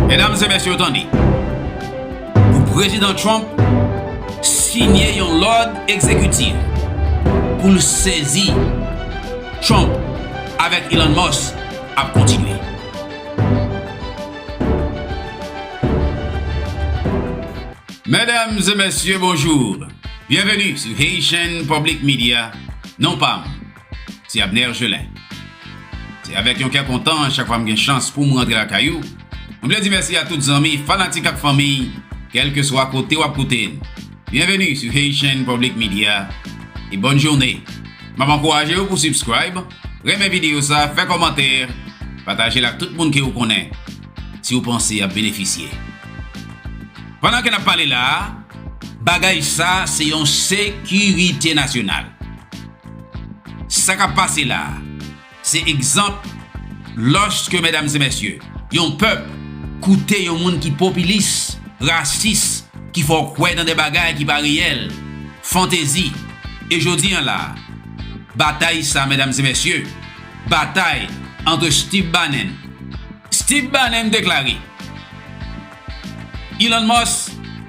Medam e mesye tande, pou Prezidan Trump siyen yon lòd egzekitif pou l sezi Trump avèk Elon Musk ap kontinye. Medam e mesye bonjour, byenveni sou Haitian Public Media, non pa m. Se Abner Gelin. Se avèk yon kè kontan chak fwa m gen chans pou m rantre lakay ou. M vle di mèsi a tout zanmi, fanatik ak fanmi, kèlkeswa kote w ap koute n. Byenveni sou Haitian Public Media e bòn joune. M ap ankouraje ou pou subscribe, renmen videyo sa, fè kòmantè, pataje l ak tout moun ke ou konnen, si ou panse y ap benefisye. Pandan ke n ap pale la a, bagay sa se yon sekirite nasyonal. Sa kap pase la a, se egzanp lòske medam e mesye, yon pèp koute yon moun ki popilis, rasis, ki fè w kwè nan de bagay ki pa reyèl, fantezi. E jodi an la a, batay sa medam e mesye, batay antre Steve Bannon, Steve Bannon deklare, Elon Musk,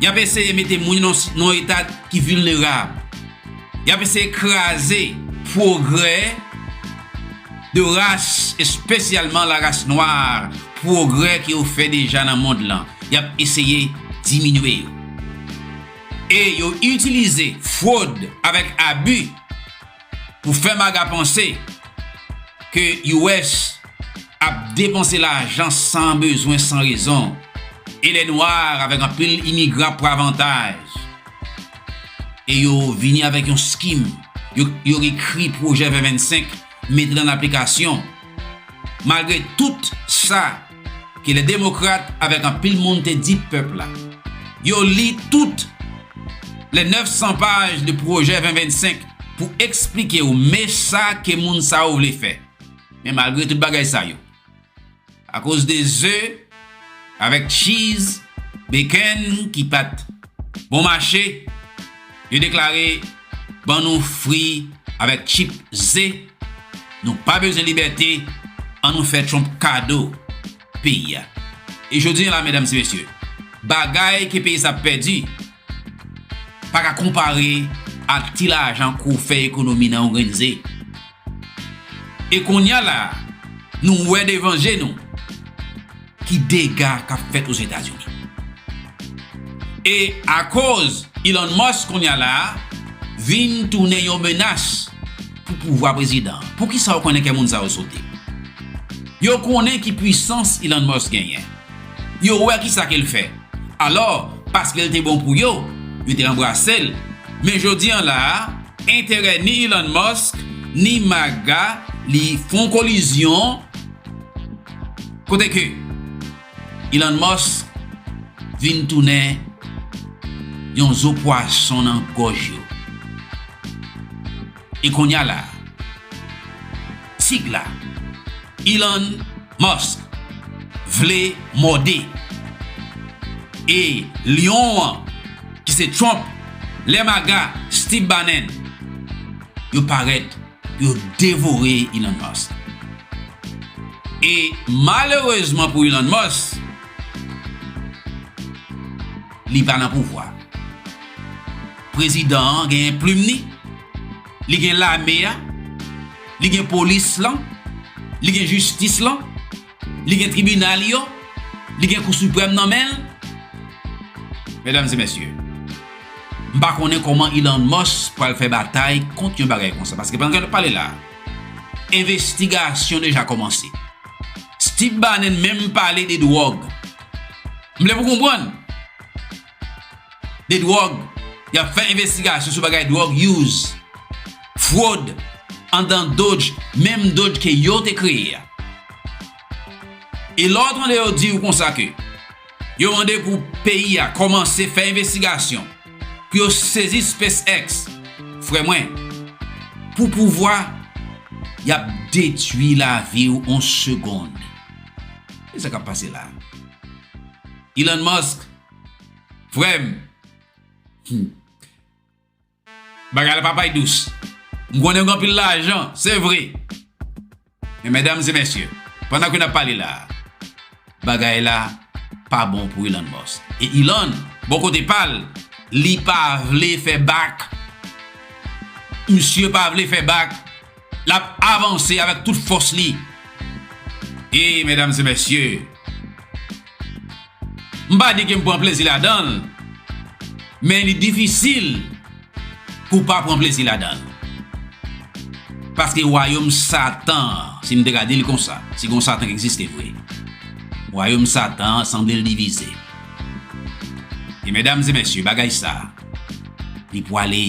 Yap eseye mete moun yo nan eta ki vilnerab. Yap eseye kraze pwogrè de ras espesyalman la ras nwa, pwogrè ke yo fè deja nan mond lan. Yap eseye diminye yo. E yo itilize fwod avèk abi Pou fè maga panse ke US ap depanse lajan san bezwen san rezon e lè nwa avèk anpil imigran ap pran avantaj e yo vini avèk yon skim yo ekri pwojè 2025 mete l an aplikasyon. Malgre tout sa ke lè demokrat avèk anpil moun te di pèp la, yo li tout lè 900 paj de pwojè 2025 pou eksplike yo me sa ke moun sa yo vle fè. Men malgre tout bagay sa yo, akoz de ze avèk tchiz, bekenn ki pat bon mache, yo deklare. ban nou fri avèk chip ze nou pa bezwen libète an nou fè trump kado peyi a e jodi an la medam se mesye bagay ke peyi sa ap pèdi pa ka konpare ak ti lajan kou fè ekonomi nan yon grenn ze e konnya la nou wè devan je nou. Ki dega kap fèt Ozetazini. E akoz Elon Musk kounya la vin tounen yon menas pou pouvwa prezidan an. Poukisa ou konnen kè moun sa yo sote? Yo konnen ki pwisans Elon Musk genyen. Yo wè kisa ke l fè. Alò, paske l te bon pou yo, yo te anbrase l. Men jodi an la a, enterè ni Elon Musk, ni maga li fon kolizyon. Kote ke Elon Musk vin tounen yon zo pwason nan gòj yo. E konnya la, tig la, Elon Musk, vle mòde. E lyon an, ki se Trump, lè maga, Steve Bannon, yo parèt. Yo devore Elon Musk. E malerezman pou Elon Musk, li pa nan pouvwa. Prezidan an genyen plim li, li gen lame a, li gen polis lan, li gen jistis lan. Li gen tribinal yo, li gen kou siprèm nan men l. Medam e mesye, m pa konnen kòman Elon Musk pral fè batay kont yon bagay konsa. Paske pandan n ap pale la, envestigasyon deja kòmanse. Steve Bannon menm pale de dwòg. M vle pou w konprann. de dwòg, y ap fè envestigasyon sou bagay dwòg use, fwod andan dodge, menm dodge ke yo te kreye a. E lè w tande yo di w konsa ke yo mande pou peyi a kòmanse fè envestigasyon pou yo sezi SpaceX, frè mwen, pou pouvwa, y ap detwi lavi w an segond. Ki sa k ap pase la a? Elon Musk Frèm Hum Bagay la pa pay dous M konnen gen anpil lajan Se vre Men medam e mesye Pandan ke nap pale la Bagay la Pa bon pou Elon Musk E Elon Bon kote pal Li pa vle fè bak Misye pa vle fè bak L ap avanse avèk tout fòs li. E, medam e mesye, m pa di ke m pran plezi ladan l, men li difisil pou w pa pran plezi ladan l. Paske wayom Satan an, si m te ka di l konsa, si gen yon Satan ki egziste vre, wayom Satan an sanble l divize. E, medam e mesye, bagay sa a, li pwale.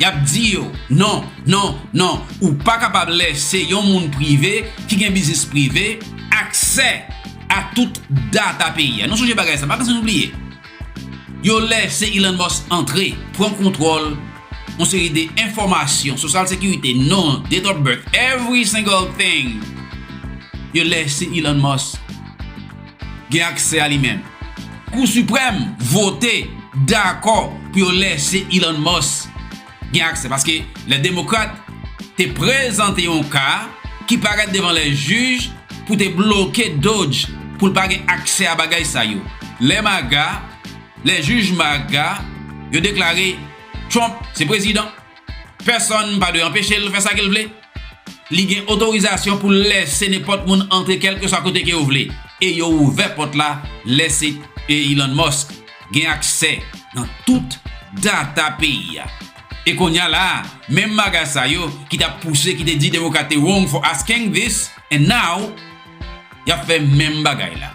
Yap di yo, non, non, non, ou pa kapab lè se yon moun prive ki gen biznis prive, aksè a tout data peyi a. Nou sonje bagay sa, pa pase nou bliye. Yo lè se Elon Musk antre, pran kontwòl yon seri de enfòmasyon, sosyal sekirite, non, date of birth, every single thing, yo lè se Elon Musk. gen aksè a li menm. Kou Siprèm vote dakò pou yo lèse Elon Musk gen aksè paske lè Demokrat te prezante yon ka ki parèt devan lè jij pou te bloke Doge pou l pa gen aksè a bagay sa yo. Lè MAGA, lè jij MAGA yo deklare Trump se prezidan, pèsonn pa dwe anpeche l fè sa ke l vle. Li gen otorizasyon pou l lèse nenpòt moun antre kèlkeswa kote ke yo vle, e yo ouvè pòt la lèse Elon Musk gen aksè nan tout data peyi a. E kounya la a, menm bagay sa yo ki tap pouse ki te di Demokrat te wrong for asking this, and now yap fè menm bagay la.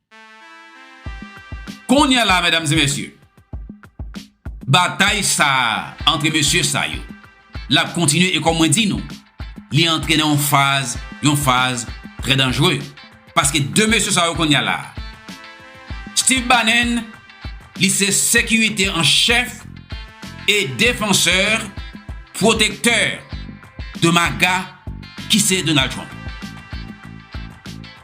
Konya la medam e mesye batay sa antre mesye sa yo lap kontinye e kom mwen di nou li antre nan yon faz yon faz trè danjre paske 2 mesye sa yo konya la Steve Bannen li se sekirite an chèf e defansè pwotektè de maga ki se Donald Trump.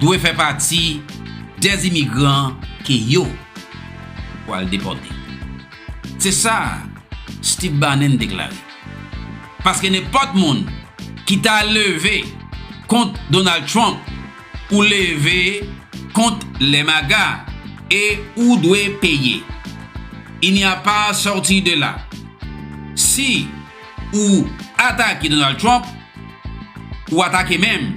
dwe fè pati dè imigran ke yo pwal depòte. Se sa Steve Bannon deklare. Paske nenpòt moun ki ta leve kont Donald Trump ou leve kont les maga e ou dwe peye. Il n'y a pas sortie de là. Si ou atake Donald Trump, ou atake menm.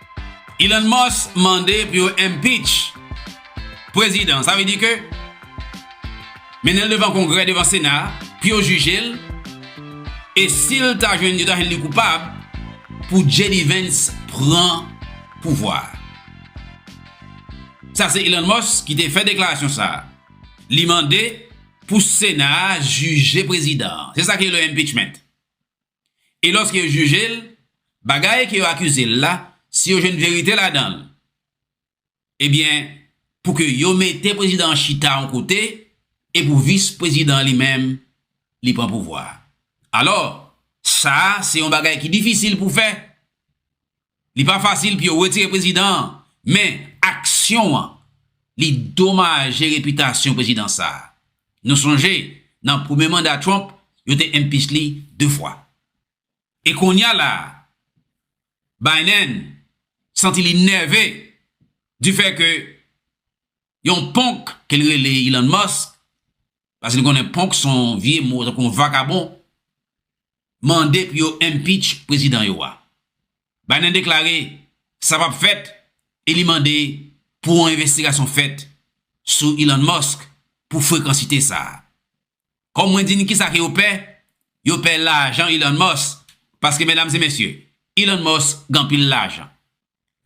Elon Musk mande pou yo impeach prezidan sa vle di ke mennen l devan kongrè devan sena pou yo jije l e si l ta jwenn yo ta jwenn li koupab pou JD Vance pran pouvwa a. Sa se Elon Musk ki te fè deklarasyon sa a. Li mande pou sena a jije prezidan an. Se sa ki rele impeachment. E lòske yo jije l, bagay ke yo akize l la, si yo jwenn verite ladan l, ebyen, pou ke yo mete prezidan an chita yon kote, e pou vis prezidan an li menm, li pran pouvwa a. Alò, sa a, se yon bagay ki difisil pou fè, Li pa fasil pou yo retire prezidan an, men aksyon an li domaje repitasyon prezidan sa a. Nou sonje nan premye manda Trump, yo te impeach li 2 fwa. E konnya la a, Biden santi li nève di fè ke yon ponk ke l rele Elon Musk, paske nou konnen ponk son vye mo tankou vakabon, mande pou yo impeach prezidan yo a. Biden deklare sa pap fèt e li mande pou yon envestigasyon fèt sou Elon Musk pou frekansite sa a. Kòm mwen di n kisa ke yo pè, yo pè lajan Elon Musk paske medam e mesye, Elon Musk gen anpil lajan.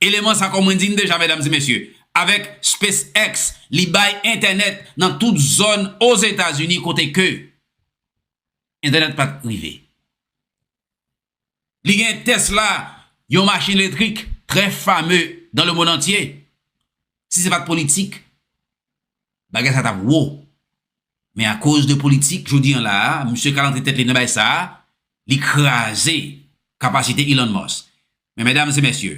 Eleman sa kòm mwen di n deja medam e mesye, avèk SpaceX li bay entènèt nan tout zòn Ozetazini kote ke. Entènèt pat k rive. Li gen Tesla, yon machin letrik trè fame dan le monn antye. Si se pat politik, bagay sa tap wo. Men akoz de politik, jodi an la a, misye kal antre tèt li nan bay sa a, li kraze kapasite Elon Musk. Men medam e mesye,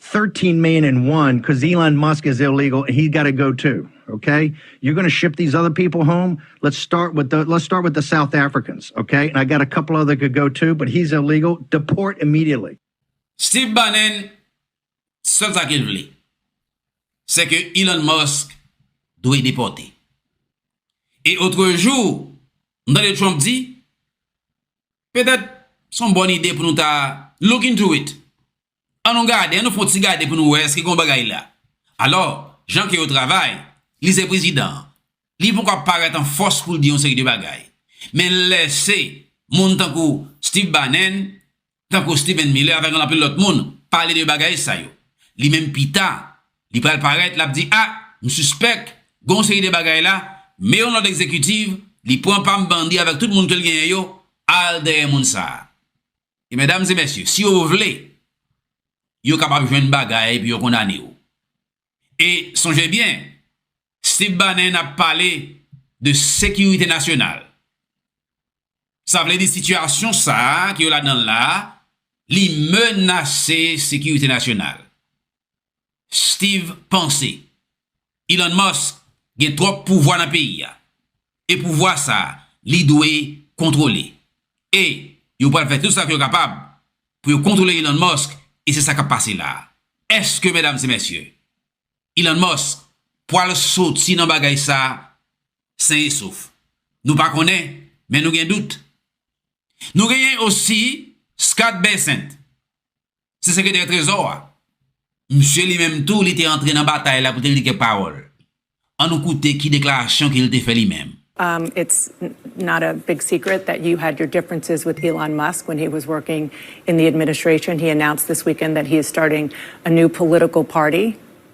13 main and one cuz Elon Musk is illegal and he got to go too okay you're gonna ship these other people home let's start with the let's start with the South Africans okay and I got a couple other could go too but he's illegal deport immediately. Steve Bannon sèl sa kel vle se ke Elon Musk dwe depòte e otrejou m tande Trump di petèt son bòn ide pou nou ta look into it An nou gade, an nou fon ti gade pou nou wè èske gen yon bagay la. Alò, jan ke yo travay, li se prezidan an. Li poko ap parèt an fòs pou l di yon seri de bagay. Men l lèse moun tankou Steve Bannon, tankou Stephen Miller avèk yon lapil lòt moun pale de bagay sa yo. Li menm pita, li pral parèt, l ap di, a, m sispèk gen yon seri de bagay la, men yon lòd egzekitiv, li pran pa m bandi avèk tout moun ke l genyen yo, al dèyè moun sa a. E medam e mesye, si yo vle, yo kapab jwenn bagay pou yo kondane w. E sonje byen, Steve Bannon ap pale de sekirite nasyonal. Sa vle di sitiyasyon sa a ke yo ladan l la a, li menase sekirite nasyonal. Steeve panse Elon Musk gen twòp pouvwa nan peyi a e pouvwa sa li dwe kontwole e yo pral fè tout sa ke yo kapab pou yo kontwole Elon Musk e se sa kap pase la a. Eske medam e mesye Elon Musk pwal soti nan bagay sa sen e sof? Nou pa konnen men nou gen dout. Nou genyen osi Scott Bessent se sekretè trezò a. Msye li menm tou li te antre nan batay la pou te di kèk pawòl. An nou koute ki deklarasyon ke li te fè li menm. It's not a big secret that you had your differences with Elon Musk when he was working in the administration. He announced this weekend that he is starting a new political party